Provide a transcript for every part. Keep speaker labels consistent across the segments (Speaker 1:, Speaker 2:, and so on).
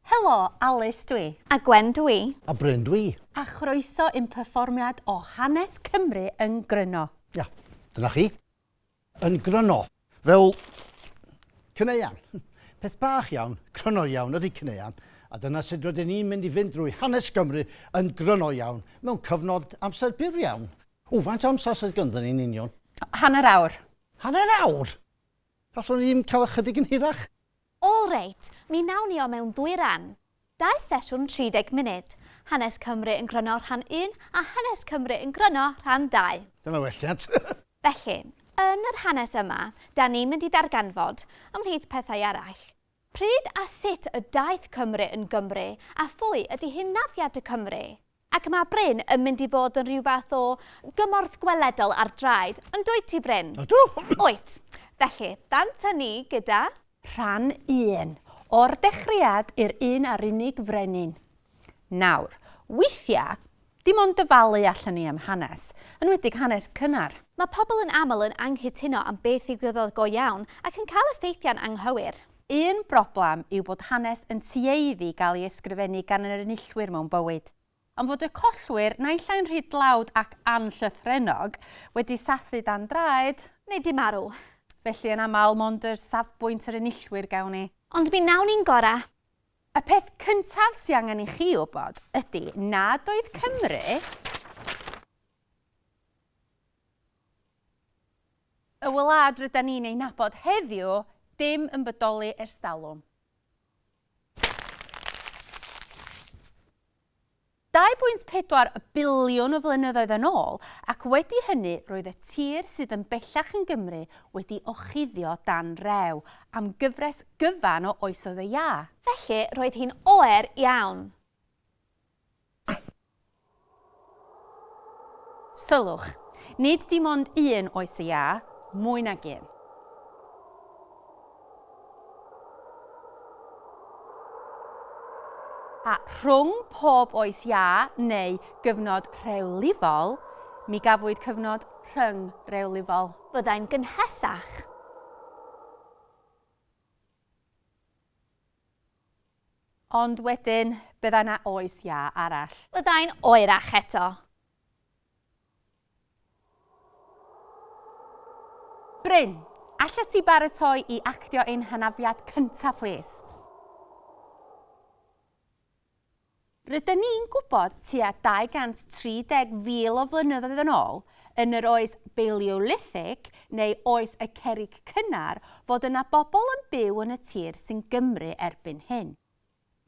Speaker 1: Helo, Alys dw i. A Gwen dw i.
Speaker 2: A Bryn dw i.
Speaker 3: A chroeso
Speaker 1: i'n perfformiad o Hanes Cymru yn Gryno. Ia, dyna
Speaker 3: chi. yn gryno. Fel caneuon. Peth bach iawn, cryno iawn ydy caneuon, a dyna sut rydyn ni'n mynd i fynd drwy hanes Cymru yn gryno iawn, mewn cyfnod amser byr iawn. O, faint o amser sydd ganddo ni'n union? Hanner awr.
Speaker 1: Hanner awr?
Speaker 3: Allwn ni ddim cael ychydig yn hirach? All right,
Speaker 2: mi wnawn ni o mewn dwy ran. Dau sesiwn 30 munud, Hanes Cymru yn Gryno Rhan Un a Hanes Cymru yn Gryno Rhan Dau. Dyna welliant!
Speaker 3: Felly,
Speaker 2: yn yr hanes yma, 'dan ni'n mynd i ddarganfod, ymhlith pethau eraill, pryd a sut y daeth Cymru yn Gymru a phwy ydi hunafiad y Cymry. Ac mae Bryn yn mynd i fod yn rhyw fath o gymorth gweledol ar draed, yn dwyt ti, Bryn? Ydw! Wyt. Felly, dant â ni gyda. Rhan
Speaker 1: un. O'r dechreuad i'r un a'r unig frenin. Nawr, weithiau, dim ond dyfalu allen ni am hanes, enwedig hanes cynnar. Mae pobl yn aml
Speaker 2: yn anghytuno am beth ddigwyddodd go iawn ac yn cael effeithiau'n anghywir. Un broblem
Speaker 1: yw bod hanes yn tueddu gael ei ysgrifennu gan yr enillwyr mewn bywyd, ond fod y collwyr, naill ai'n rhy dlawd ac anllythrennog, wedi sathru dan draed, neu 'di marw,
Speaker 2: felly yn aml
Speaker 1: mond yr safbwynt yr enillwyr gewn ni. Ond mi wnawn ni'n gorau.
Speaker 2: Y peth
Speaker 1: cyntaf sy angen i chi wybod ydy nad oedd Cymru, Y wlad rydan ni'n ei nabod heddiw, dim yn bodoli ers talwm. Dau bwynt pedwar biliwn o flynyddoedd yn ôl, ac wedi hynny roedd y tir sydd yn bellach yn Gymru wedi ochuddio dan rew am gyfres gyfan o oesoedd y iâ. Felly, roedd hi'n
Speaker 2: oer iawn.
Speaker 1: Sylwch, nid dim ond un oes y Iâ, mwy nag un. A rhwng pob oes Iâ neu gyfnod rhewlifol, mi gafwyd cyfnod rhyngrewlifol. Byddai'n
Speaker 2: gynhesach.
Speaker 1: Ond wedyn, byddai 'na oes iâ arall. Byddai'n oerach
Speaker 2: eto.
Speaker 1: Bryn, allet ti baratoi i actio ein hanafiad cynta, plîs? Rydyn ni'n gwybod, tua 230,000 o flynyddoedd yn ôl, yn yr Oes Baleolithig, neu Oes y Cerrig Cynnar, fod yna bobl yn byw yn y tir sy'n Gymru erbyn hyn.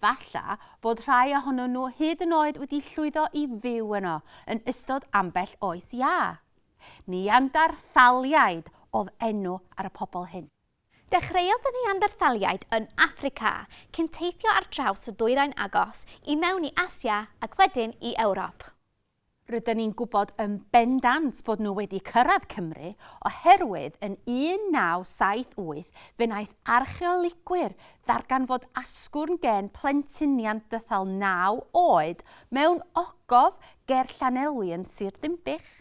Speaker 1: Falle bod rhai ohonyn nhw hyd yn oed wedi llwyddo i fyw yno yn ystod ambell oes iâ. Neanderthaliaid oedd enw ar y pobl hyn. Dechreuodd y
Speaker 2: Neanderthaliaid yn Affrica, cyn teithio ar draws y dwyrain agos, i mewn i Asia ac wedyn i Ewrop. Rydyn ni'n
Speaker 1: gwybod yn bendant bod nhw wedi cyrraedd Cymru oherwydd yn 1978 fe wnaeth archeolegwyr ddarganfod asgwrn gên plentyn Neanderthal naw oed mewn ogof ger Llanelwy yn Sir Ddinbych.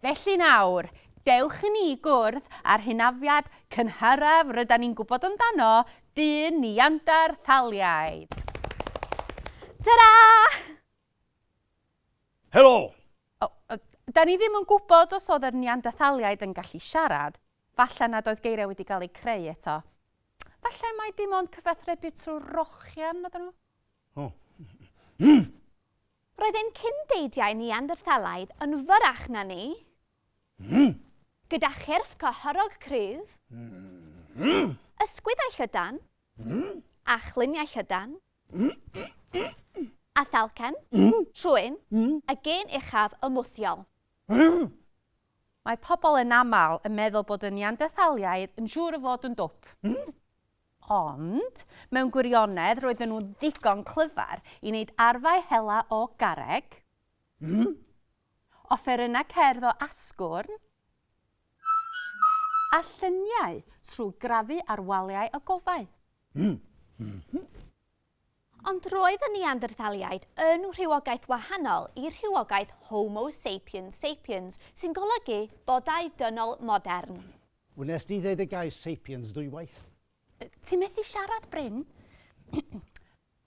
Speaker 1: Felly nawr, dewch i ni gwrdd â'r hynafiad cynharaf rydan ni'n gwybod amdano, dyn Neanderthaliaid.
Speaker 2: Ta-ra!
Speaker 3: Helo! O, o,
Speaker 1: da ni ddim yn gwybod os oedd yr Neanderthaliaid yn gallu siarad. Falle nad oedd geiriau wedi cael eu creu eto. Falle mai dim ond cyfathrebu trwy rochian oedden nhw?
Speaker 2: Roedd ein cyn-deidiau Neanderthalaidd yn fyrrach na ni, gyda chyrff cyhorog cryf, ysgwyddau llydan, a chluniau llydan, a thalcen, trwyn, y gên uchaf ymwthiol.
Speaker 1: Mae pobl yn aml yn meddwl bod y Neanderthaliaid yn siŵr o fod yn dwp. Ond, mewn gwirionedd, roedden nhw'n ddigon clyfar i wneud arfau hela o garreg, mm, offerynnau cerdd o asgwrn, a lluniau trwy grafu ar waliau ogofâu, mm, mm-hm. Ond
Speaker 2: roedd y Neanderthaliaid yn rhywogaeth wahanol i'r rhywogaeth Homo sapiens sapiens, sy'n golygu bodau dynol modern. Wnest ti ddeud
Speaker 3: y gair sapiens ddwywaith? Ti methu
Speaker 1: siarad, Bryn?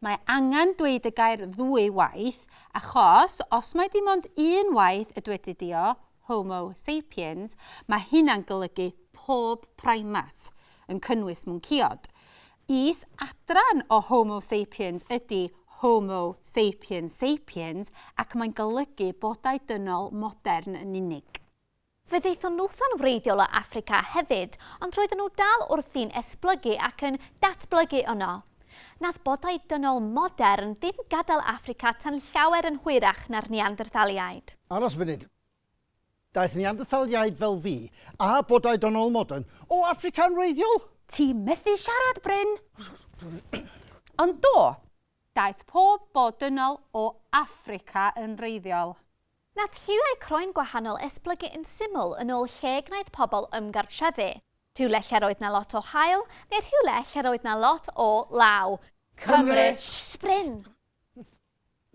Speaker 1: Mae angen dweud y gair ddwy waith, achos os mai dim ond un waith y dwedid di o, Homo sapiens, mae hynna'n golygu pob primat, yn cynnwys mwncïod. Is adran o Homo sapiens ydy Homo sapiens sapiens ac mae'n golygu bodau dynol modern yn unig. Fe ddaethon
Speaker 2: nhw'n wreiddiol o Affrica hefyd, ond roedden nhw dal wrthi'n esblygu ac yn datblygu yno. Nath bodau dynol modern ddim gadael Affrica tan llawer yn hwyrach na'r Neanderthaliaid. Aros funud.
Speaker 3: Daeth Neanderthaliaid fel fi, a bodau dynol modern, o Affrica yn wreiddiol? Ti methu
Speaker 1: siarad, Bryn! Ond do, daeth pob bod dynol o Affrica yn wreiddiol. Nath lliwiau
Speaker 2: croen gwahanol esblygu yn syml yn ôl lle y gwnaeth pobl ymgartrefu. Rhywle lle'r oedd 'na lot o haul, neu rhywle lle'r oedd 'na lot o law. Cymru!
Speaker 1: Sbrin!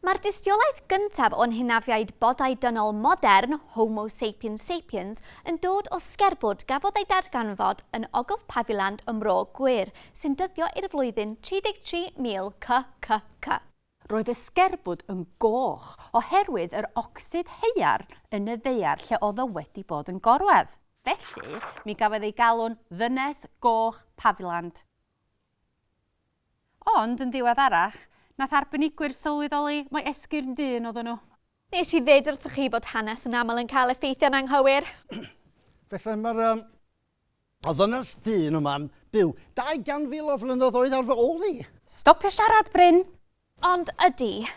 Speaker 2: Mae'r dystiolaeth gyntaf o'n hynafiaid bodau dynol modern, Homo sapiens sapiens, yn dod o sgerbwd gafodd ei darganfod yn Ogof Paviland ym Mro Gŵyr, sy'n dyddio i'r flwyddyn 33,000 CCC. Roedd y
Speaker 1: sgerbwd yn goch oherwydd yr ocsid haearn yn y ddaear lle oedd o wedi bod yn gorwedd. Felly, mi gafodd ei galw'n Ddynes Goch Paviland. Ond, yn ddiweddarach, nath arbenigwyr sylweddoli mai esgyrn dyn oedden nhw. Nes i ddeud wrthoch
Speaker 2: chi fod hanes yn aml yn cael effeithiau'n anghywir. Felly,
Speaker 3: mae'r A ddynas dyn yma'n byw dau gan fil o flynyddoedd ar fy ôl i! Stopio siarad,
Speaker 1: Bryn! Ond ydy.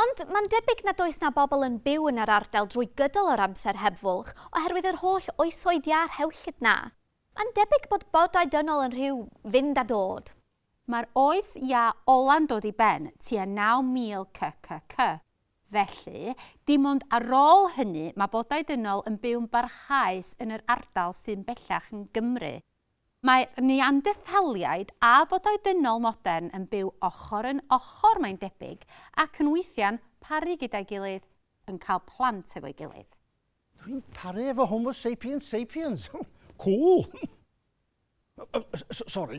Speaker 2: Ond mae'n debyg nad oes 'na bobl yn byw yn yr ardal drwy gydol yr amser heb fwlch oherwydd yr holl oesoedd iâ rhewllyd 'na. Mae'n debyg bod bodau dynol yn rhyw fynd a dod. Mae'r Oes
Speaker 1: Iâ ola'n dod i ben tua 9000 CCC, felly, dim ond ar ôl hynny mae bodau dynol yn byw'n barhaus yn yr ardal sy'n bellach yn Gymru. Mae Neanderthaliaid a bodau dynol modern yn byw ochr yn ochr, mae'n debyg, ac yn weithiau'n paru gyda'i gilydd, yn cael plant efo'i gilydd. Dwi'n
Speaker 3: paru efo Homo sapiens sapiens! Cŵl! Sorry.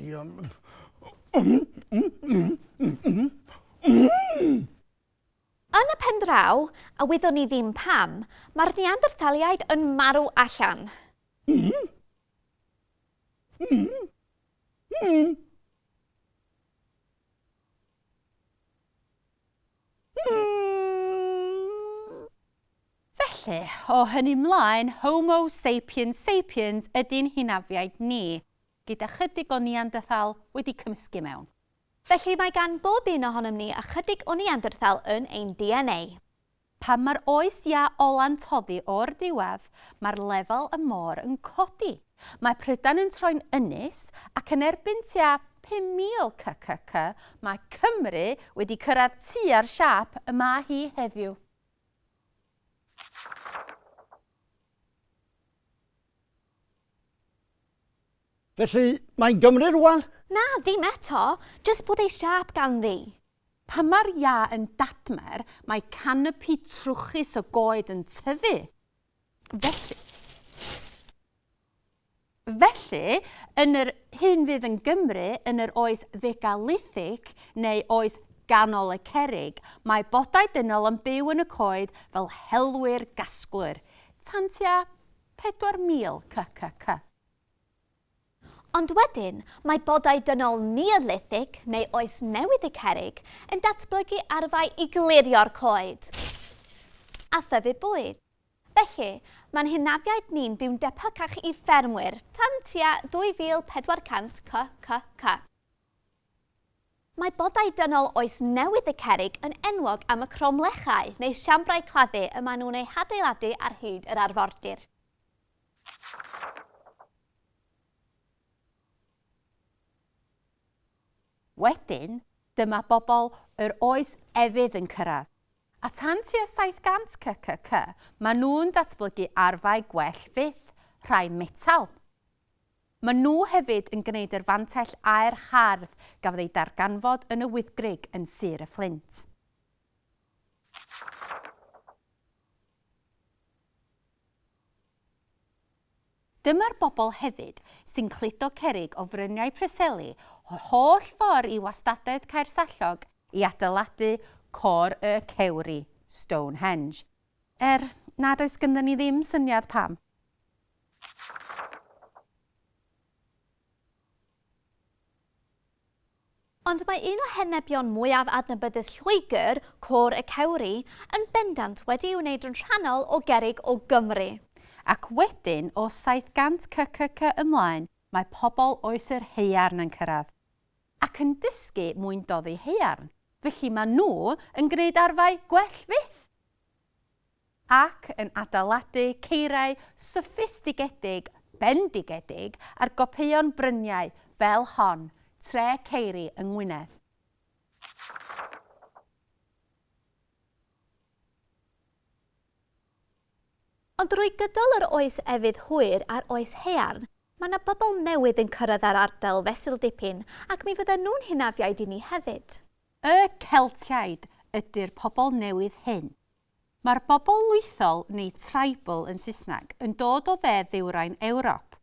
Speaker 2: Yn y pen draw, a wyddwn i ddim pam, mae'r Neanderthaliaid yn marw allan.
Speaker 1: Felly, o hynny 'mlaen, Homo sapiens sapiens ydi'n hynafiaid ni, gyda chydig o Neanderthal wedi cymysgu mewn. Felly, mae gan
Speaker 2: bob un ohonom ni ychydig o Neanderthal yn ein DNA. Pan mae'r
Speaker 1: oes iâ ola'n toddi o'r diwedd, mae'r lefel y môr yn codi. Mae Prydain yn troi'n ynys ac yn erbyn tua 5,000 kcc, mae Cymru wedi cyrraedd tua'r siâp y mae hi heddiw.
Speaker 3: Felly, mae Gymru rwan? Na, ddim eto,
Speaker 2: jyst bod ei siâp ganddi. Pan mae'r
Speaker 1: iâ yn dadmer, mae canopi trwchus o goed yn tyfu. Felly, felly, yn yr hyn fydd yn Gymru yn yr oes fegalithic neu oes ganol y cerrig, mae bodau dynol yn byw yn y coed fel helwyr gasglwyr, tan tua 4000 CCC.
Speaker 2: Ond wedyn, mae bodau dynol Neolithig neu Oes Newydd y Cerrig yn datblygu arfau i glirio'r coed a thyfu bwyd. Felly, mae'n hynafiaid ni'n byw'n debycach i ffermwyr tan tua 2400 CCK. Mae bodau dynol Oes Newydd y Cerrig yn enwog am y cromlechau neu siambrau claddu y maen nhw'n eu hadeiladu ar hyd yr arfordir.
Speaker 1: Wedyn, dyma bobl yr oes efydd yn cyrraedd. A tan tua 700 CCC, maen nhw'n datblygu arfau gwell fyth, rhai metel. Maen nhw hefyd yn gwneud yr fantell aer hardd gafodd ei darganfod yn y Wyddgrug yn Sir y Fflint. Dyma'r bobl hefyd sy'n cludo cerrig o fryniau Preseli yr holl ffordd i wastadedd Caersallog i adeiladu Côr y Cewri, Stonehenge. Er nad oes ganddo ni ddim syniad pam.
Speaker 2: Ond mae un o henebion mwyaf adnabyddus Lloegr, Côr y Cewri, yn bendant wedi'i wneud yn rhannol o gerrig o Gymru. Ac
Speaker 1: wedyn, o 700 CCC ymlaen, mae pobl oes yr haearn yn cyrraedd. Ac yn dysgu mwyn doddi haearn. Felly mae nhw yn gwneud arfau gwell fyth! ac yn adeiladu ceiriau soffistigedig bendigedig ar gopïon bryniau fel hon tre ceiri yng Ngwynedd.
Speaker 2: Ond drwy gydol yr Oes Efydd Hwyr a'r Oes Haearn, mae 'na bobl newydd yn cyrraedd yr ardal fesul dipyn ac mi fyddan nhw'n hynafiaid i ni hefyd. Y
Speaker 1: Celtiaid ydy'r pobl newydd hyn. Mae'r bobl lwythol, neu tribal yn Saesneg, yn dod o dde-ddwyrain Ewrop,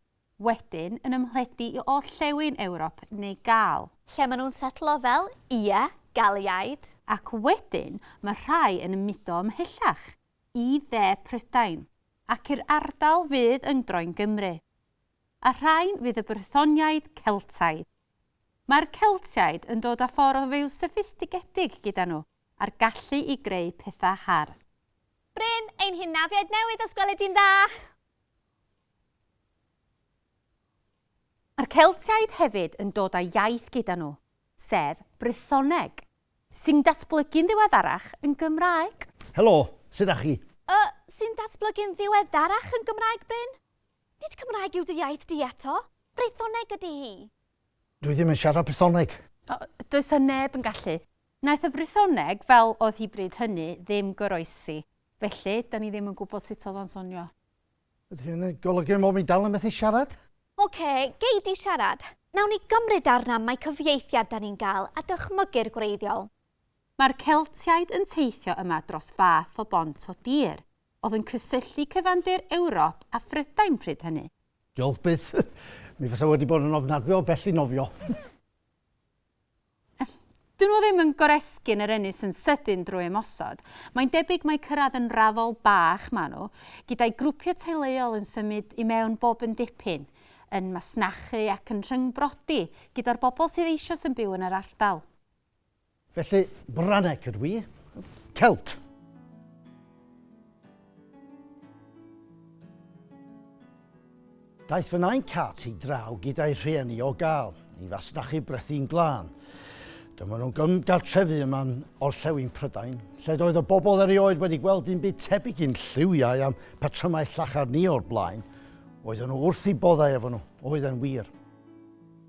Speaker 1: wedyn yn ymhledu i orllewin Ewrop neu Gâl. Lle maen nhw'n setlo
Speaker 2: fel, ie, Galiaid. Ac wedyn
Speaker 1: mae rhai yn ymudo ymhellach, i dde Prydain, ac i'r ardal fydd yn groen Gymru. A rhain fydd y Brythoniaid, Celtaidd. Mae'r Celtiaid yn dod â ffordd o fyw soffistigedig gyda nhw. a'r gallu i greu pethau hardd. Bryn,
Speaker 2: ein hynafiaid newydd os gweli di'n dda!
Speaker 1: Mae'r Celtiaid hefyd yn dod â iaith gyda nhw, sef Brythoneg. Sy'n datblygu'n ddiweddarach yn Gymraeg. Helo, sut
Speaker 3: da chi? Y, sy'n datblygu'n
Speaker 2: ddiweddarach yn Gymraeg, Bryn? Nid Cymraeg yw dy iaith di eto, Brythoneg ydy hi. Dwi ddim yn
Speaker 3: siarad Brythoneg. O, does 'na
Speaker 1: neb yn gallu. Naeth y Frythoneg, fel oedd hi bryd hynny, ddim goroesi. Felly, dan ni ddim yn gwybod sut oedd o'n sonio. Ydy hynny'n
Speaker 3: golygu mod i dal yn methu siarad? Ok, gei
Speaker 2: di siarad. Nawn ni gymryd arna am mai cyfieithiad dan ni'n gael a dychmygu'r gwreiddiol. Mae'r
Speaker 1: Celtiaid yn teithio yma dros fath o bont o dir oedd yn cysylltu cyfandir Ewrop a Phrydain pryd hynny. Diolch byth.
Speaker 3: Mi fasa wedi bod yn ofnadwy o bell i nofio.
Speaker 1: Dyn nhw ddim yn goresgyn yr ynys yn sydyn drwy ymosod. Mae'n debyg mai cyrraedd yn raddol bach maen nhw, gyda'i grwpiau teuluol yn symud i mewn bob yn dipyn, yn masnachu ac yn rhyngbrodi gyda'r bobl sydd eisoes yn byw yn yr ardal. Felly,
Speaker 3: Branec ydw i. Celt! Daeth fy nain Cat i draw gyda'i rhieni o gael i fasnachu brethi'n glân. Dyma nhw'n gymgartrefu yma'n orllewin Prydain, lle doedd y bobl erioed wedi gweld un byd tebyg i'n lliwiau am patrymau llachar ni o'r blaen. Oedden nhw wrth i boddau efo nhw, oedden wir.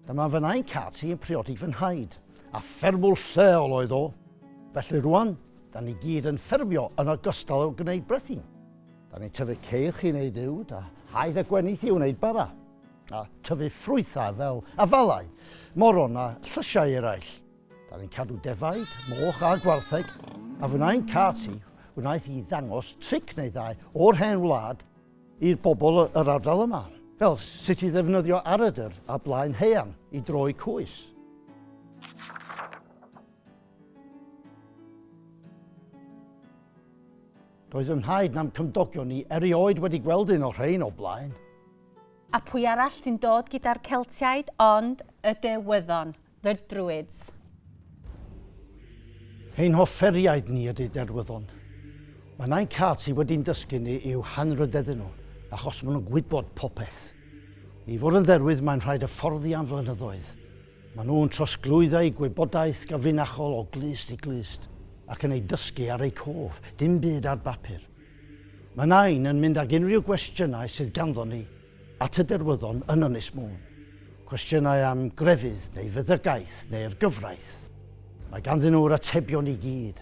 Speaker 3: Dyma fy nain Cat i'n priodi fy nhaid, a ffermwr lleol oedd o. Felly rwan, Da ni gyd yn ffermio yn ogystal â gwneud brethyn. Da ni'n tyfu ceirch i wneud uwd, a haidd a gwenith i wneud bara, a tyfu ffrwythau fel afalau, moron a llysiau eraill. Da ni'n cadw defaid, moch a gwartheg, a fy nain Katy wnaeth i ddangos tric neu ddau o'r hen wlad i'r bobl yr ardal yma, fel sut i ddefnyddio aredr a blaen haearn i droi cwys. Does yn rhaid nam cymdogion ni erioed wedi gweld un o'r rhain o blaen. A
Speaker 1: pwy arall sy'n dod gyda'r Celtiaid ond y Derwyddon, the Druids.
Speaker 3: Ein hofferiaid ni ydy Derwyddon. Mae nain Cat sydd wedi'n dysgu ni i'w hanrhydeddu nhw, achos maen nhw'n gwybod popeth. I fod yn dderwydd mae'n rhaid hyfforddi am flynyddoedd. Maen nhw'n trosglwyddo eu gwybodaeth gyfrinachol o glust i glust ac yn ei dysgu ar eu cof, dim byd ar bapur. Mae Nain yn mynd ag unrhyw gwestiynau sydd ganddon ni at y derwyddon yn Ynys Môn. Cwestiynau am grefydd neu feddygaeth neu'r gyfraith. Mae ganddyn nhw'r atebion i gyd.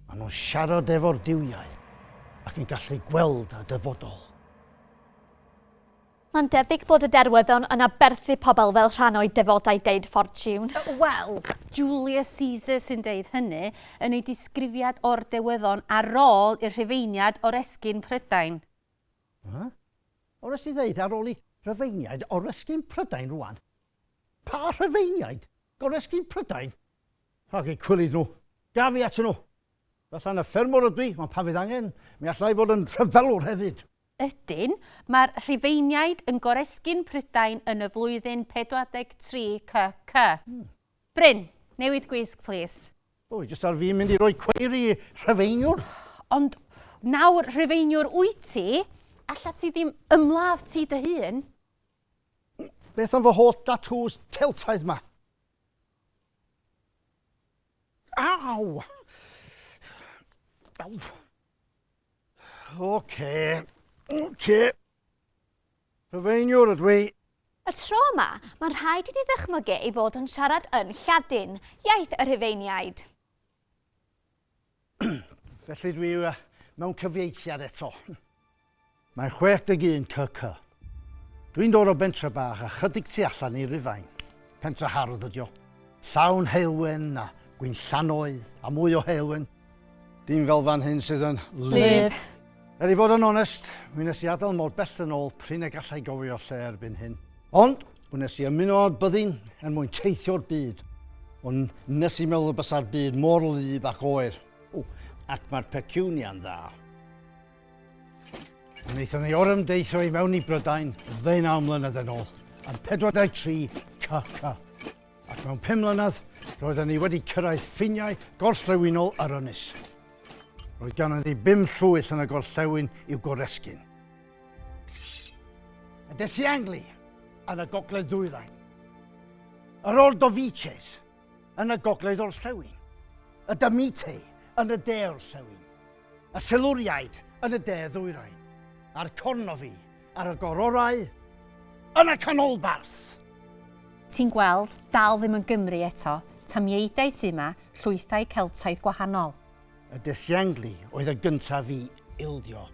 Speaker 3: Maen nhw'n siarad efo'r duwiau ac yn gallu gweld y dyfodol. Mae'n
Speaker 2: debyg bod y derwyddon yn aberthu pobl fel rhan o'u defodau deud ffortiwn. Wel,
Speaker 1: Julius Caesar sy'n deud hynny yn ei disgrifiad o'r dewyddon ar ôl i'r Rhufeiniaid oresgyn Prydain. Huh?
Speaker 3: O wnes i ddeud ar ôl i Rhufeiniaid oresgyn Prydain rwan? Pa Rhufeiniaid? Goresgyn Prydain? Rhag eu cwilydd nhw. Gaf fi atyn nhw. Fatha na ffermwr ydw i, ond pan fydd angen, mi alla i fod yn rhyfelwr hefyd. Ydyn,
Speaker 1: mae'r Rhufeiniaid yn goresgyn Prydain yn y flwyddyn 43 CC. Bryn, newid gwisg plîs. O, jyst ar fin
Speaker 3: mynd i roi cweir i Rhufeiniwr. Ond
Speaker 1: nawr Rhufeiniwr wyt ti, allet ti ddim ymladd ti dy hun?
Speaker 3: Beth am fy holl datŵs Celtaidd 'ma? Aw! Aw! Oce, oce. Rhyfeiniwr ydw i. Y tro yma,
Speaker 2: mae'n rhaid i ti ddychmygu ei fod yn siarad yn Lladin, iaith y Rhufeiniaid.
Speaker 3: Felly dwi uh, mewn cyfieithiad eto. Mae'n 61 CC. Dwi'n dod o bentre bach a chydig tu allan i Rufain. Pentre hardd ydi o. Llawn heulwen a gwynllanoedd a mwy o heulwen. Dim fel fan hyn sydd yn lib.
Speaker 1: Er i fod yn
Speaker 3: onest, mi nes i adael mor bell yn ôl prin y gallai gofio lle erbyn hyn. Ond, wnes i ymuno â'r byddin er mwyn teithio'r byd. Ond nes i meddwl y bysa'r byd mor lib ac oer. O, ac mae'r pecunia'n dda. Wnaethon ni orymdeithio i mewn i Brydain ddeunaw mlynedd yn ôl, ar 43 KK. Ac mewn pum mlynedd, roedden ni wedi cyrraedd ffiniau gorllewinol yr ynys. Roedd ganon ni bum llwyth yn y gorllewin i'w goresgyn. A des i Angli, yn y gogledd ddwyrain. Yr Ordovices, yn y gogledd orllewin. Y Damite, yn y de orllewin. Y Silwriaid, yn y de ddwyrain. A'r Cornofi, Ar y gororau, yn y canolbarth! Ti'n
Speaker 1: gweld, dal ddim yn Gymru eto, tamiaeidau sy' 'ma, llwythau Celtaidd gwahanol. Y Desiangli
Speaker 3: oedd y gyntaf i ildio.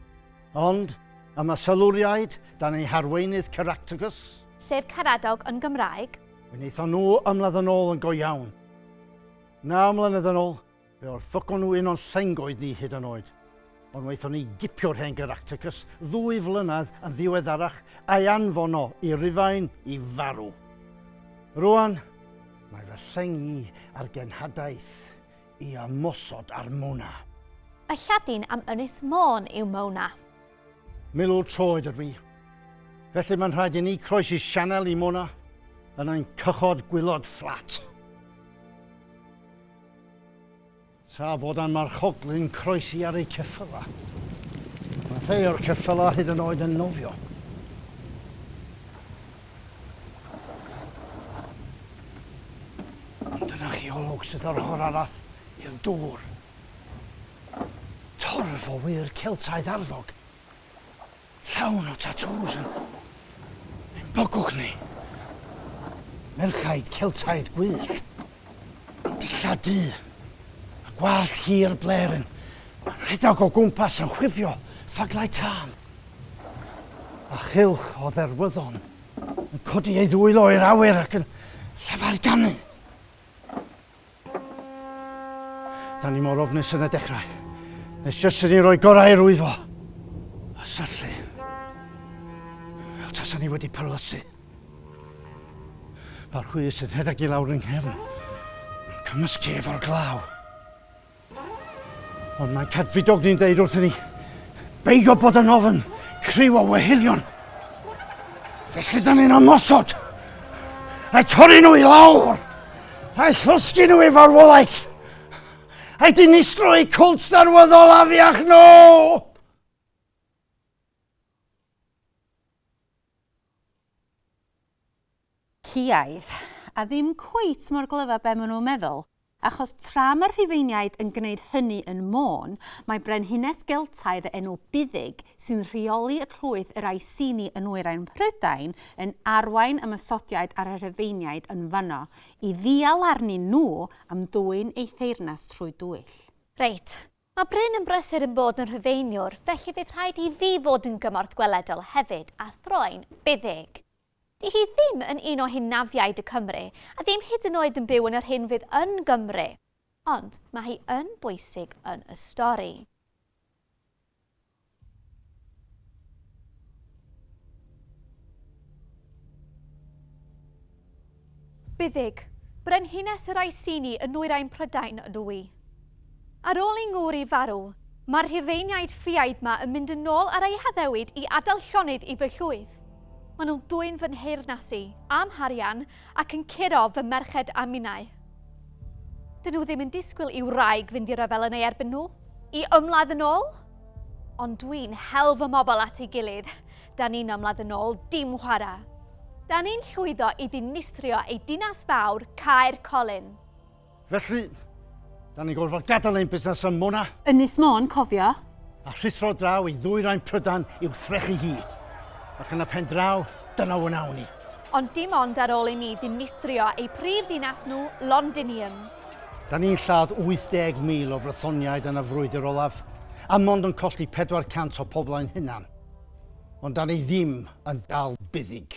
Speaker 3: Ond, am y Siluriaid, dan eu harweinydd Caractacus. Sef Caradog
Speaker 2: yn Gymraeg. Wnaethon nhw
Speaker 3: ymladd yn ôl yn go iawn. Naw mlynedd yn ôl, Fe orthogwn nhw un o'n llengoed ni hyd yn oed. Ond waethon ni gipio'r hen Geracticus ddwy flynedd yn ddiweddarach a'i anfono i Rufain i farw. Rwan, mae fy lleng i ar genhadaeth i ymosod ar Mona. Y Lladin
Speaker 2: am Ynys Môn yw Mona. Milwr
Speaker 3: troed ydw i. Felly mae'n rhaid i ni croesi sianel i Mona yn ein cychod gwylod fflat. Tra bod ein marchoglyn croesi ar eu ceffylau, mae rhai o'r ceffylau hyd yn oed yn nofio. Ond dyna chi olwg sydd o'r ochr arall i'r dŵr. Torf o wŷr Celtaidd arfog. Llawn o tatŵs yn ein bygwth ni. Merchaid Celtaidd gwyllt, yn dillad du, a gwallt hir bler yn rhedeg o gwmpas yn chwifio ffaglau tân. A chylch o dderwyddon yn codi ei ddwylo i'r awyr ac yn llefaru ganu. Da ni mor ofnus yn y dechrau. Nes jyst i ni roi gorau i'r wyfo. A syllu. Fel tasa ni wedi perlysu. Mae'r hwy sy'n rhedeg i lawr yng nghefn. Cymysgu efo'r glaw. Ond mae'n cadfridog ni'n dweud wrthyn ni, beidio bod yn ofyn criw o wehilion. Felly da ni'n ymosod, a torri nhw i lawr, a llosgi nhw i farwolaeth, a dinistro i cwlt darwyddol afiach nhw! No!
Speaker 1: Ciaidd, a ddim cweit mor glyf a be maen nhw'n meddwl, achos tra mae'r Rhufeiniaid yn gwneud hynny yn Môn, mae brenhines Geltaidd o enw Buddig, sy'n rheoli y llwyth yr Iceni yn nwyrain Mhrydain, yn arwain y Masodiaid a'r Rhufeiniaid yn fanno, i ddial arnyn nhw am ddwyn eu
Speaker 2: theyrnas
Speaker 1: trwy dwyll. Reit, Mae
Speaker 2: Bryn yn brysur yn bod yn Rhufeiniwr, felly bydd rhaid i fi fod yn gymorth gweledol hefyd, a throi'n Fuddug. Di hi ddim yn un o hunafiaid y Cymry, a ddim hyd yn oed yn byw yn yr hyn fydd yn Gymru. Ond mae hi yn bwysig yn y stori. Byddig, brenhines yr Iceni yn nwyrain Prydain, ydw i. Ar ôl i Ngwri farw, mae'r Rhufeiniaid ffiaidd 'ma yn mynd yn ôl ar eu haddewid i adael llonydd i fy llwyth. Maen nhw'n dwyn fy nheyrnas i, a'm harian, Ac yn curo fy merched a minnau. Dyn nhw ddim yn disgwyl i wraig fynd i ryfel yn ei erbyn nhw, i ymladd yn ôl. Ond dwi'n hel fy mobl at ei gilydd, da ni'n ymladd yn ôl, dim chwarae. Da ni'n llwyddo i ddinistrio ei dinas fawr, Caer Colin. Felly,
Speaker 3: da ni'n gorfod gadael ein busnes ym Mona. Ynys Môn, cofio.
Speaker 1: A rhuthro
Speaker 3: draw i ddwyrain Prydain i'w threchu hi. Ac yn y pen draw, dyna o'n awn ni. Ond dim ond ar
Speaker 2: ôl i ni ddinistrio eu prif ddinas nhw, Londinium. Da ni'n
Speaker 3: lladd 80,000 o Frythoniaid yn y frwydr olaf, a mond yn colli 400 o pobl ein hunan. Ond da ni ddim yn dal buddig.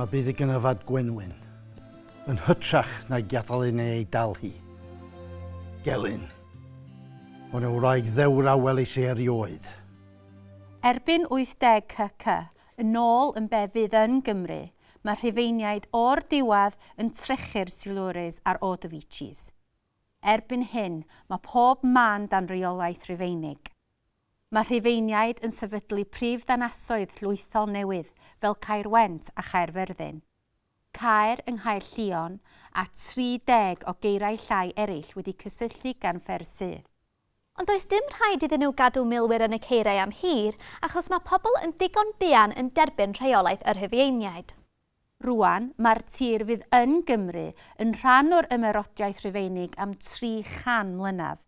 Speaker 3: Mae bydd y gynnyfad gwenwyn yn hytrach na'i gadael ei neu ei dal hi. Gelyn. O'n y wraig ddewr a welis i erioed.
Speaker 1: Erbyn 80 kk yn ôl yn be fydd yn Gymru, Mae Rhufeiniaid o'r diwedd yn trechu'r Silures a'r Ordovices. Erbyn hyn, mae pob man dan reolaeth Rufeinig. Mae Rhufeiniaid yn sefydlu prif ddinasoedd llwythol newydd fel Caerwent a Chaerfyrddin. Caer yng Nghaerllion, a 30 o geirau llai eraill wedi cysylltu gan ffer sydd. Ond does dim
Speaker 2: rhaid iddyn nhw gadw milwyr yn y ceiriau am hir achos mae pobl yn ddigon buan yn derbyn rheolaeth yr Rhufeiniaid. Rŵan,
Speaker 1: mae'r tir fydd yn Gymru yn rhan o'r Ymerodraeth Rufeinig am 300 mlynedd.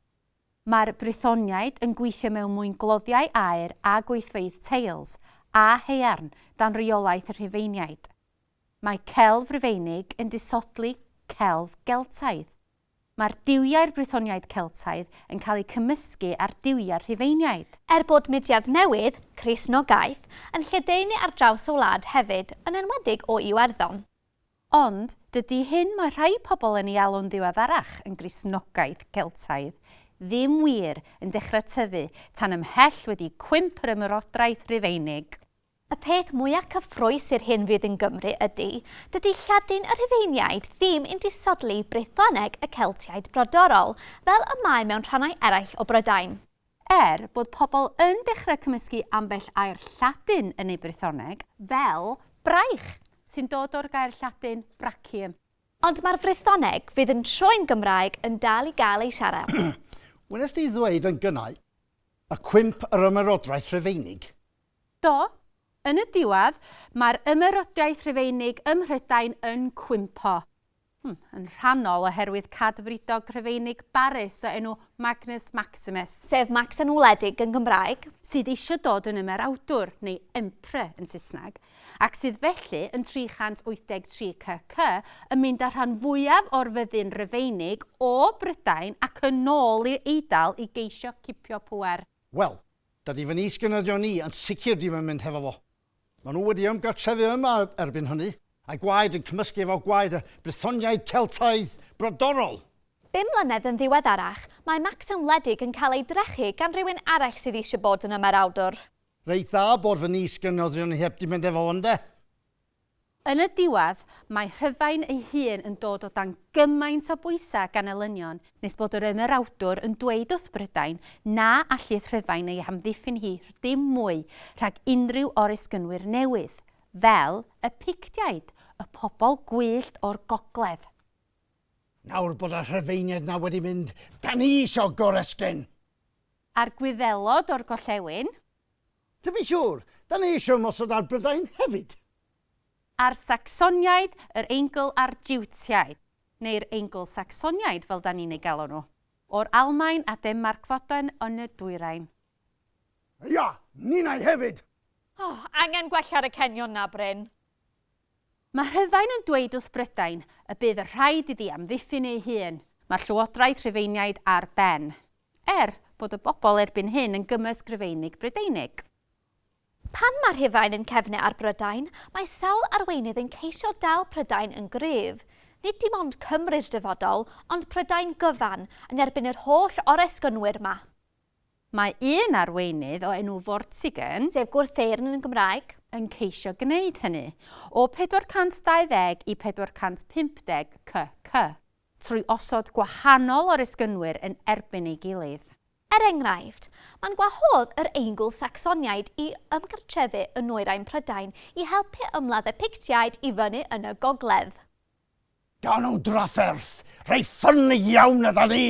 Speaker 1: Mae'r Brythoniaid yn gweithio mewn mwyn gloddiau aer a gweithfeydd teils a haearn dan reolaeth y Rhufeiniaid. Mae celf Rufeinig yn disodli celf Geltaidd. Mae'r duwiau'r Brythoniaid Celtaidd yn cael eu cymysgu â'r duwiau'r Rhufeiniaid. Er bod mudiad
Speaker 2: newydd, Cristnogaeth, yn lledaenu ar draws y wlad hefyd, yn enwedig o Iwerddon. Ond,
Speaker 1: dydy hyn mae rhai pobl yn ei alw'n ddiweddarach yn Gristnogaeth Geltaidd ddim wir yn dechrau tyfu tan ymhell wedi cwymp yr Ymerodraeth Rufeinig. Y peth
Speaker 2: mwya cyffrous i'r hyn fydd yn Gymru ydy, dydy Lladin y Rhufeiniaid ddim yn disodli Brythoneg y Celtiaid brodorol, fel y mae mewn rhannau eraill o Brydain. Er bod
Speaker 1: pobl yn dechrau cymysgu ambell air Lladin yn eu Brythoneg, fel 'braich', sy'n dod o'r gair Lladin 'brachium'. Ond mae'r
Speaker 2: Frythoneg fydd yn troi'n Gymraeg yn dal i gael ei siarad. Wnest ti
Speaker 3: ddweud yn gynnau y cwymp yr Ymerodraeth Rhufeinig? Do,
Speaker 1: yn y diwedd, mae'r Ymerodraeth Rhufeinig ym Mhrydain yn cwympo. Hmm, yn rhannol oherwydd cadfridog Rhufeinig barus o enw Magnus Maximus. Sef Max yn
Speaker 2: wledig yn Gymraeg. Sydd eisiau dod
Speaker 1: yn Ymerawdwr, neu Emperor yn Saesneg, ac sydd felly, yn 383 CC, yn mynd â'r rhan fwyaf o'r fyddin Rufeinig o Brydain ac yn ôl i'r Eidal i geisio cipio pŵer. Wel,
Speaker 3: Dydy fy is-gynyddion i yn sicr ddim yn mynd hefo fo. Maen nhw wedi ymgartrefu yma erbyn hynny, a'i gwaed yn cymysgu efo gwaed y Brythoniaid Celtaidd brodorol! Bum mlynedd yn
Speaker 2: ddiweddarach,
Speaker 3: mae
Speaker 2: Macsen wledig yn cael ei drechu gan rywun arall sydd eisiau bod yn ymerawdwr. Reit dda
Speaker 3: bod fy is-gynyddion i heb di mynd efo fo, ynde?
Speaker 1: Yn y diwedd, mae Rhydain ei hun yn dod o dan gymaint o bwysau gan elynion, nes bod yr ymerawdwr yn dweud wrth Brydain na allith Rhydain ei hamddiffyn hi dim mwy rhag unrhyw oresgynwyr newydd, fel y Pictiaid, y pobl gwyllt o'r gogledd.
Speaker 3: Nawr bod y Rhufeiniaid 'na wedi mynd, 'da ni isio goresgyn! A'r
Speaker 1: Gwyddelod o'r gollewin. Dw i'n
Speaker 3: siŵr! Da ni eisiau ymosod ar Brydain hefyd! A'r
Speaker 1: Sacsoniaid, yr Eingl a'r Jiwtiaid, neu'r Eingl-Sacsoniaid fel da ni'n eu galw nhw, o'r Almaen a Denmarc fodoen yn y dwyrain.
Speaker 3: Ia! Ninnau hefyd! O! Angen
Speaker 2: gwella ar y cenion 'na, Bryn.
Speaker 1: Mae Rhufain yn dweud wrth Brydain y bydd yn rhaid iddi amddiffyn ei hun. Mae'r llywodraeth Rhufeiniaid ar ben, er bod y bobl erbyn hyn yn gymysg Rufeinig Brydeinig. Pan
Speaker 2: mae Rhufain yn cefnu ar Brydain, mae sawl arweinydd yn ceisio dal Prydain yn gryf. Nid dim ond Cymru'r dyfodol, ond Prydain gyfan, yn erbyn yr holl oresgynwyr 'ma. Mae
Speaker 1: un arweinydd o enw Vortigern, sef gwrtheyrn yn
Speaker 2: Gymraeg, yn ceisio
Speaker 1: gwneud hynny, o 420 i 450 kc, trwy osod gwahanol oresgynwyr yn erbyn ei gilydd. Er enghraifft,
Speaker 2: mae'n gwahodd yr Eingl-Sacsoniaid i ymgartrefu yn nwyrain Prydain i helpu ymladd y Pictiaid i fyny yn y gogledd. Gawn
Speaker 3: nhw drafferth reit ffyni iawn 'na 'da ni!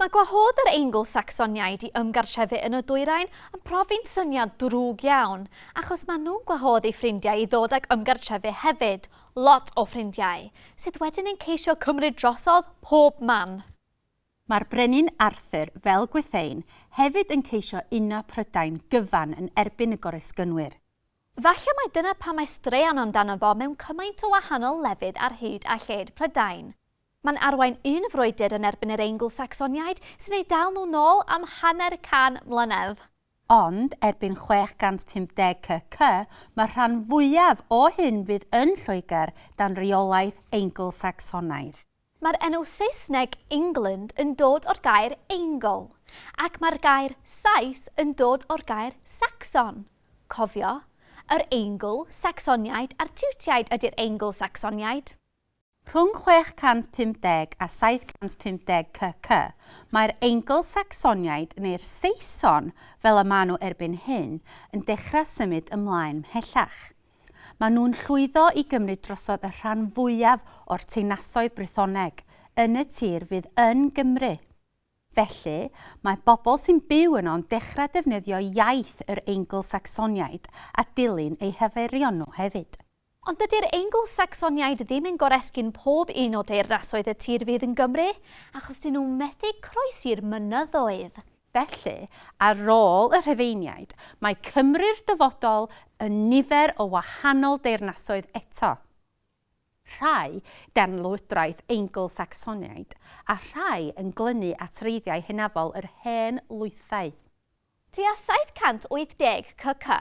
Speaker 2: Mae gwahodd yr Eingl-Sacsoniaid i ymgartrefu yn y dwyrain yn profi'n syniad drwg iawn, achos maen nhw'n gwahodd eu ffrindiau i ddod ac ymgartrefu hefyd, lot o ffrindiau, sydd wedyn yn ceisio cymryd drosodd pob man. Mae'r
Speaker 1: Brenin Arthur, fel Gwythein, hefyd yn ceisio uno Prydain gyfan yn erbyn y Goresgynwyr. Falle mai
Speaker 2: dyna pam mae straeon amdano fo mewn cymaint o wahanol lefydd ar hyd a lled Prydain. Mae'n arwain un frwydr yn erbyn yr Eingl-Sacsoniaid, sy'n eu dal nhw nôl am hanner can mlynedd. Ond
Speaker 1: erbyn 650 CC, mae'r rhan fwyaf o hyn fydd yn Lloegr dan reolaeth Eingl-Sacsonaidd. Mae'r enw
Speaker 2: Saesneg England yn dod o'r gair Eingl, ac mae'r gair Sais yn dod o'r gair Sacson. Cofio, yr Eingl, Sacsoniaid a'r Tiwtiaid ydi'r Eingl-Sacsoniaid. Rhwng 650
Speaker 1: a 750 CC, mae'r Eingl-Sacsoniaid, neu'r Saeson fel y maen nhw erbyn hyn, yn dechrau symud ymlaen 'mhellach. Maen nhw'n llwyddo i gymryd drosodd y rhan fwyaf o'r teyrnasoedd Brythoneg yn y tir fydd yn Gymru. Felly, mae bobl sy'n byw yno'n dechrau defnyddio iaith yr Eingl-Sacsoniaid a dilyn eu hyfeirion nhw hefyd. Ond dydy'r
Speaker 2: Eingl-Sacsoniaid ddim yn goresgyn pob un o deyrnasoedd y tir fydd yn Gymru, achos dyn nhw methu croesi'r mynyddoedd. Felly,
Speaker 1: ar ôl y Rhufeiniaid, mae Cymru'r dyfodol yn nifer o wahanol deyrnasoedd eto. Rhai gan lywodraeth Eingl-Sacsoniaid, a rhai yn glynu at wreiddiau hynafol yr hen lwythau. Tua 780
Speaker 2: CC.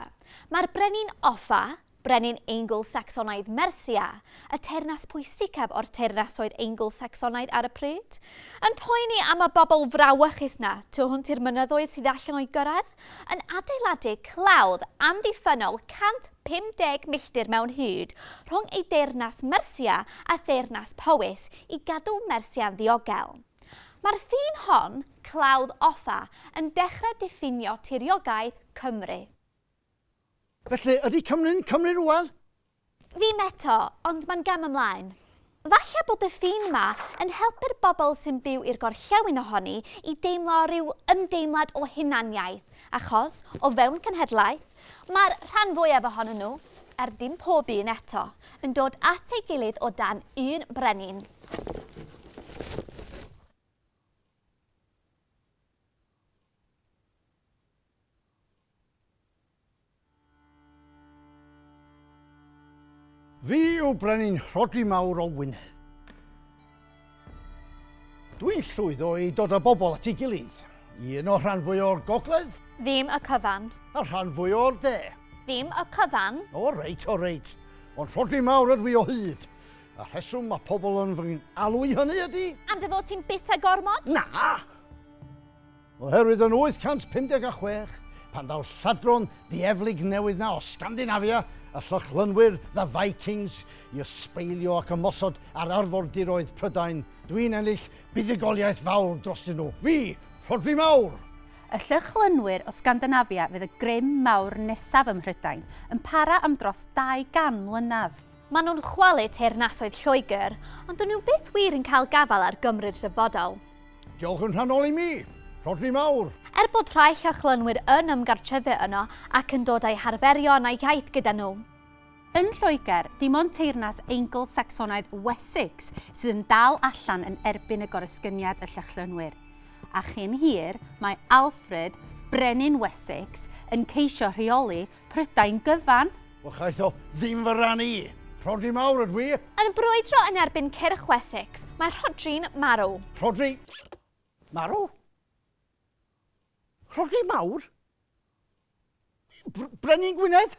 Speaker 2: Mae'r brenin Offa, brenin Eingl-Sacsonaidd Mersia, y teyrnas pwysicaf o'r teyrnasoedd Eingl-Sacsonaidd ar y pryd, yn poeni am y bobl frawychus na tu hwnt i'r mynyddoedd sydd allan o'i gyrraedd, yn adeiladu clawdd amddiffynnol 150 milltir mewn hyd rhwng ei deyrnas Mersia a theyrnas Powys i gadw Mersia'n ddiogel. Mae'r ffin hon, clawdd offa, yn dechrau diffinio tiriogaeth Cymru.
Speaker 3: Felly, ydy Cymru'n Cymru rwan? Ddim
Speaker 2: eto, ond mae'n gam ymlaen. Falle bod y ffin yma yn helpu'r bobl sy'n byw i'r gorllewin ohoni i deimlo rhyw ymdeimlad o hunaniaeth, achos, o fewn cenhedlaeth, Mae'r rhan fwyaf ohonyn nhw, er dim pob un eto, yn dod at ei gilydd o dan un brenin.
Speaker 3: Fi yw brenin Rhodri Mawr o Wynedd. Dwi'n llwyddo i dod â bobl at ei gilydd. Un o'r rhan fwy o'r gogledd. Ddim y cyfan.
Speaker 2: A'r rhan fwy o'r
Speaker 3: de. Ddim y
Speaker 2: cyfan.
Speaker 3: O reit, o reit. Ond rhodri mawr ydw i o
Speaker 2: hyd.
Speaker 3: Y rheswm mae pobl yn fy alw i hynny ydy... Am dy fod ti'n bita
Speaker 2: gormod? Na!
Speaker 3: Oherwydd yn 856, pan ddaw lladron dieflig newydd 'na o Sgandinafia, y Llychlynwyr, the Vikings, i ysbeilio ac ymosod ar arfordiroedd Prydain, dwi'n ennill buddugoliaeth fawr drostyn nhw. Fi! Rhodri Mawr! Y Llychlynwyr
Speaker 1: o Sgandinafia fydd y grym mawr nesaf ym Mhrydain, yn para am dros 200 mlynedd. Maen nhw'n chwalu
Speaker 2: teyrnasoedd Lloegr, ond dyn nhw byth wir yn cael gafael ar Gymry'r dyfodol. Diolch yn
Speaker 3: rhannol i mi! Rhodri mawr! Er bod rhai
Speaker 2: Llochlynwyr yn ymgartrefu yno ac yn dod â'u harferion a'u hiaith gyda nhw, Yn
Speaker 1: Lloegr, dim ond teyrnas Eingl-Sacsonaidd Wessex sydd yn dal allan yn erbyn y goresgyniad y Llychlynwyr, a chyn hir mae Alfred, Brenin Wessex, yn ceisio rheoli Prydain gyfan. Wel chaeth o
Speaker 3: ddim fy ran i. Rhodri mawr ydw i. Yn brwydro yn
Speaker 2: erbyn cyrch Wessex, mae Rhodri'n marw. Rhodri!
Speaker 3: Marw? Rhodri mawr? Br Brenin Gwynedd?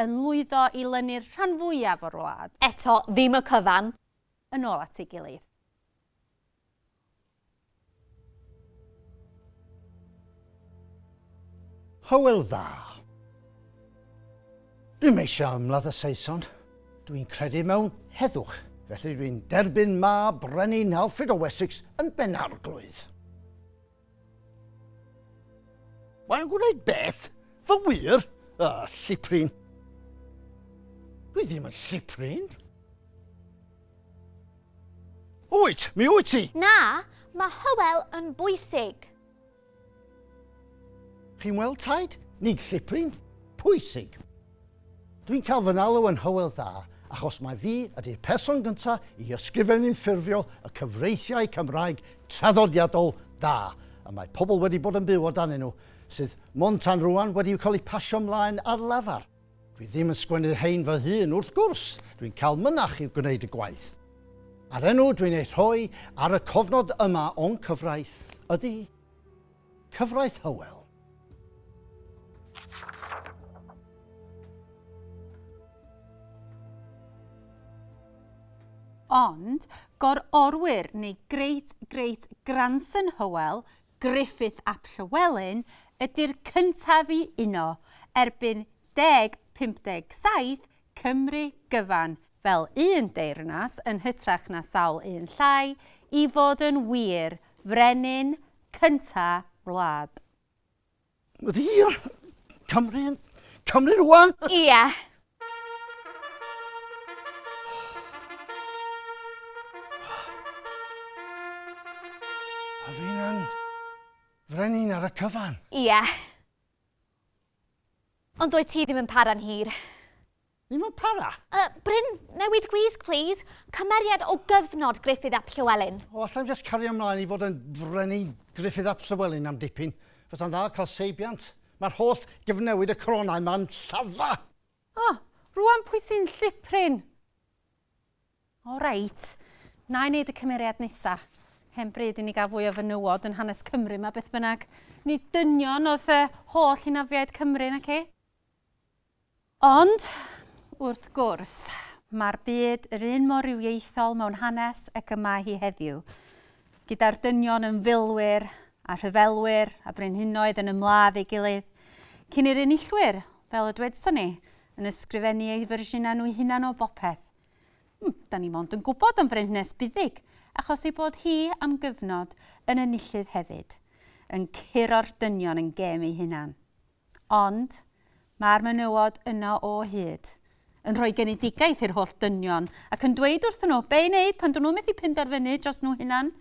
Speaker 1: Yn lwyddo i lynu'r rhan fwyaf o'r wlad. Eto, ddim y cyfan.
Speaker 2: Yn ôl at
Speaker 1: ei gilydd.
Speaker 3: Hywel Dda. Dwi'm eisiau ymladd y Saeson. Dwi'n credu mewn heddwch, felly dwi'n derbyn mab Brenin Alfred o Wessex yn Ben-arglwydd. Mae'n gwneud beth? Fy wir? A, lliprin. Dwi ddim yn lliprin. Wyt, mi wyt ti! Na, mae
Speaker 2: Hywel yn bwysig.
Speaker 3: Chi'n weld taid? Nid lliprin. Pwysig. Dwi'n cael fy nalw yn Hywel Dda achos mai fi ydy'r person gyntaf i ysgrifennu'n ffurfiol y cyfreithiau Cymraeg traddodiadol da y mae pobl wedi bod yn byw o danyn nhw, sydd mond tan rŵan wedi cael eu pasio mlaen ar lafar. Dwi ddim yn sgwennu'r rhein fy hun, wrth gwrs, dwi'n cael mynach i'w gwneud y gwaith. A'r enw dwi'n ei rhoi ar y cofnod yma o'n cyfraith ydy. Cyfraith Hywel.
Speaker 1: Ond, gor-orwyr neu great great grandson Hywel, Griffith ap Llywelyn, ydy'r cyntaf i uno, erbyn 1057, Cymru gyfan, fel un deyrnas yn hytrach na sawl un llai, i fod yn wir, frenin Cynta wlad.
Speaker 3: Ddiar! Cymru yn Cymru rwan! Ia! A fi'n yn frenin ar y cyfan. Ia!
Speaker 2: Ond doedd ti ddim yn para'n hir. Ddim
Speaker 3: yn para? Yy, Bryn,
Speaker 2: newid gwisg plîs. Cymeriad o gyfnod Gruffydd ap Llywelyn. O, alla i'm jyst cario
Speaker 3: ymlaen i fod yn frenin Gruffydd ap Llywelyn am dipyn? Fysa'n dda cael seibiant. Mae'r holl gyfnewid y coronau 'ma'n llafa! O,
Speaker 1: rŵan pwy sy'n llipryn? O reit, wna i wneud y cymeriad nesa. Hen bryd i ni gael fwy o fenywod yn hanes Cymru ma beth bynnag. Nid dynion oedd y holl hynafiaid Cymru, naci? Ond, wrth gwrs, mae'r byd yr un mor rywiaethol mewn hanes ac y mae hi heddiw, gyda'r dynion yn filwyr a rhyfelwyr a brenhinoedd yn ymladd ei gilydd, cyn i'r enillwyr, fel y dwedson ni, yn ysgrifennu eu fersiynau nhw'u hunan o bopeth. Mm, da ni mond yn gwybod am frenhnes buddig, achos ei bod hi am gyfnod yn y nillydd hefyd, yn curo'r dynion yn gem ei hunan. Ond mae'r menywod yno o hyd, yn rhoi genedigaeth i'r holl dynion ac yn dweud wrthyn nhw be i wneud pan dyn nhw methu penderfynu dros nhw hunan,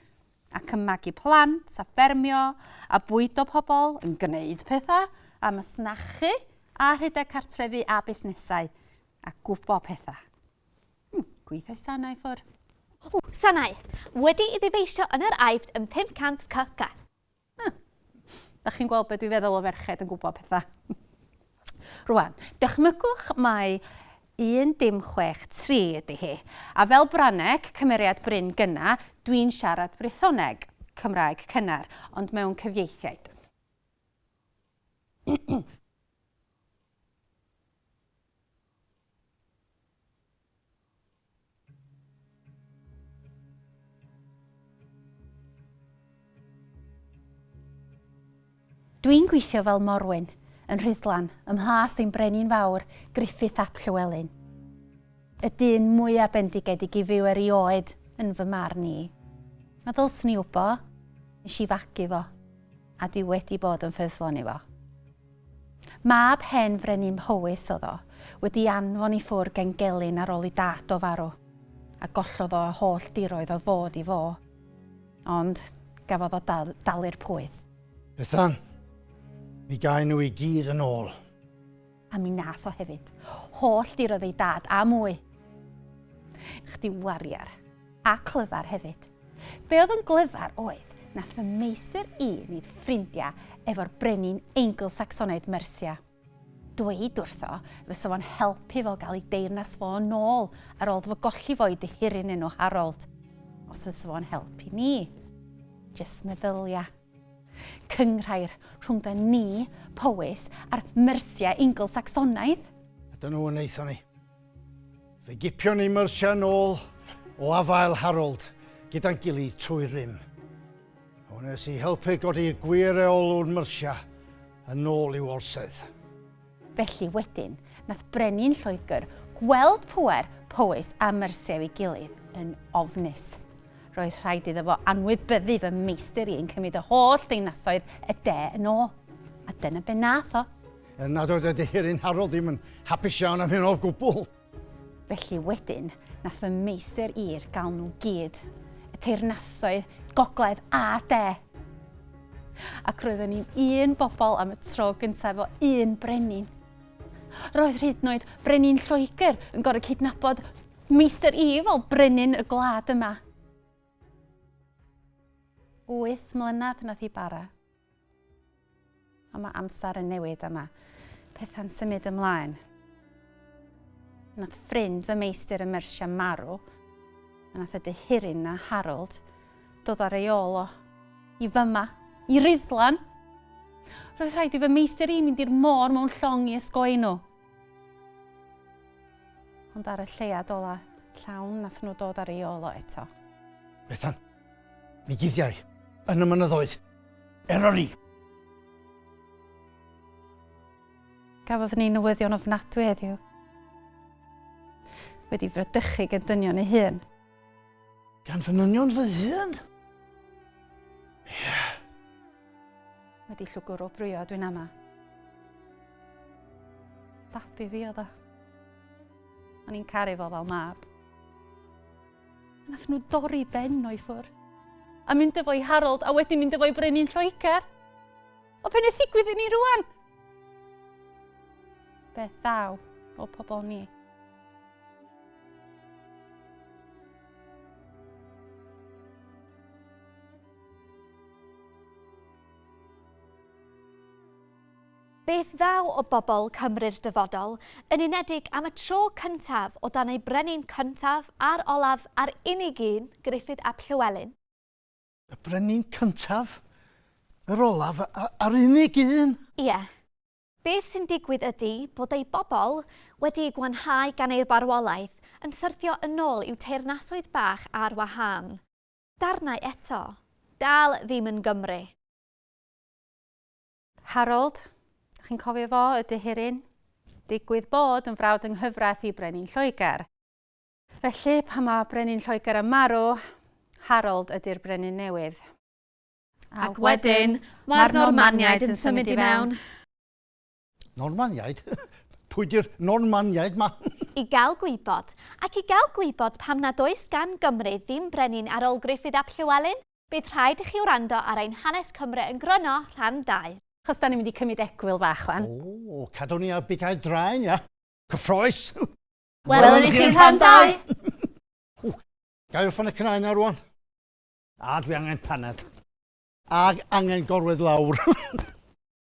Speaker 1: ac yn magu plant a ffermio a bwydo pobl, yn gwneud pethau a masnachu a rhedeg cartrefi a busnesau. A gwybod pethau. Hmm, gweithio i sanau ffwr. O, sanau.
Speaker 2: Wedi i ddifeisio yn yr aifft yn 500 cc. Hmm.
Speaker 1: Da chi'n gweld beth dwi'n feddwl o ferched yn gwybod pethau. Rwan, dychmygwch mai 163 ydy hi. A fel Braneg, cymeriad Bryn Gynna, dwi'n siarad Brythoneg, Cymraeg cynnar, ond mewn cyfieithiaid. Dwi'n gweithio fel morwyn, yn Rhuddlan, ym mhlas ein brenin fawr, Griffith ap Llywelyn. Y dyn mwya bendigedig i fyw erioed, yn fy marn i. A ddylswn i wbo, nes i fagu fo, a dwi wedi bod yn ffyddlon i fo. Mab hen frenin Mhowys oedd o, wedi'i anfon i ffwrg gen gelyn ar ôl i dad o farw, a gollodd o y holl diroedd oedd fod i fo. Ond, gafodd o dalu'r pwyth. Bethan,
Speaker 3: mi gaen nhw i gyd yn ôl. A mi
Speaker 1: nath o hefyd. Holl diroedd ei dad, a mwy. Chdi wariar. A clyfar hefyd. Be oedd yn glyfar oedd, nath fy meistr i wneud ffrindia efo'r brenin Eingl-Sacsonaidd Mercia. Dweud wrtho fysa fo'n helpu fo gael ei deyrnas fo yn ôl ar ôl fo golli fo i dihiryn enw Harold. Os fysa fo'n helpu ni. Jyst meddylia. Cynghrair rhwng da ni, Powys, a'r Mercia Eingl-Sacsonaidd! A dyna fo
Speaker 3: wnaethon ni. Fe gipion ni myrsiau nôl o afael Harold gyda'n gilydd trwy'r rym. Hwn nes i helpu godi'r gwir reolwr myrsiau yn ôl i'w orsedd. Felly
Speaker 1: wedyn, nath brenin Lloegr gweld pŵer Powys a Mersiau ei gilydd yn ofnus. Roedd rhaid iddo fo anwybyddu fy meistr i yn cymryd y holl ddinasoedd y de yn ôl. A dyna be nath o. Er nad oedd y
Speaker 3: deheurin Harold ddim yn hapus iawn am hyn o gwbl. Felly
Speaker 1: wedyn, nath fy meistr i'r gael nhw gyd, y teyrnasoedd gogledd a de! Ac roeddwn ni'n un bobl am y tro gyntaf efo un brenin. Roedd hyd yn oed brenin Lloegr yn gorau cydnabod meistr i fel brenin y gwlad yma. Wyth mlynedd nath hi bara. Ond mae amser yn newid a mae pethau'n symud ymlaen. Nath ffrind fy meistr ym Mersia marw, a nath y dyhiryn na Harold dod ar ei ôl o. I fyma, i Rhuddlan! Roedd rhaid i fy meistr i mynd i'r môr mewn llong i ysgoi nhw. Ond ar y lleiad ola llawn nath nhw dod ar ei ôl o eto. Bethan,
Speaker 3: Mi guddiai yn y mynyddoedd Eryri.
Speaker 1: Gafodd ni newyddion ofnadwy heddiw. Wedi fradychu gen dynion ei hun. Gan
Speaker 3: fy nynion fy hun? Yeah.
Speaker 1: Wedi llwgwr o brwyo dwi'n ama. Babi fi oedd o. O'n i'n caru fo fel mab. Nath nhw dorri Ben o'i ffwr. A mynd efo i Harold a wedyn mynd efo i Brenin Lloegr. O be wnaeth ddigwydd i ni rwan? Beth ddaw o pobl ni?
Speaker 2: Beth ddaw o bobl Cymru'r dyfodol, yn unedig am y tro cyntaf o dan eu brenin cyntaf a'r olaf a'r unig un, Gruffydd ap Llywelyn? Y
Speaker 3: brenin cyntaf, yr olaf a'r unig un? Ie.
Speaker 2: Beth sy'n digwydd ydy bod eu bobl, wedi'u gwanhau gan eu barwolaeth, yn syrthio yn ôl i'w teyrnasoedd bach ar wahân. Darnau eto. Dal ddim yn Gymru.
Speaker 1: Harold, chi'n cofio fo, y dihiryn? Digwydd bod yn frawd yng nghyfraith i Brenin Lloegr. Felly, pan mae Brenin Lloegr yn marw, Harold ydy'r Brenin newydd. Ac
Speaker 2: wedyn, mae'r Normaniaid yn symud i mewn. Normaniaid?
Speaker 3: Pwy di'r Normaniaid ma? I gael gwybod,
Speaker 2: ac i gael gwybod pam nad oes gan Gymru ddim brenin ar ôl Gruffydd ap Llywelyn, Bydd rhaid i chi wrando ar ein Hanes Cymru yn Gryno rhan dau. Chos da
Speaker 1: ni'n mynd i cymryd egwyl fach wan. O, cadw ni ar
Speaker 3: bigau draen, ia? Cyffroes!
Speaker 2: Welwn i chi yn rhan dau! O, gael y
Speaker 3: ffon y cnau na rwan. A, dwi angen paned. Ag angen gorwedd lawr.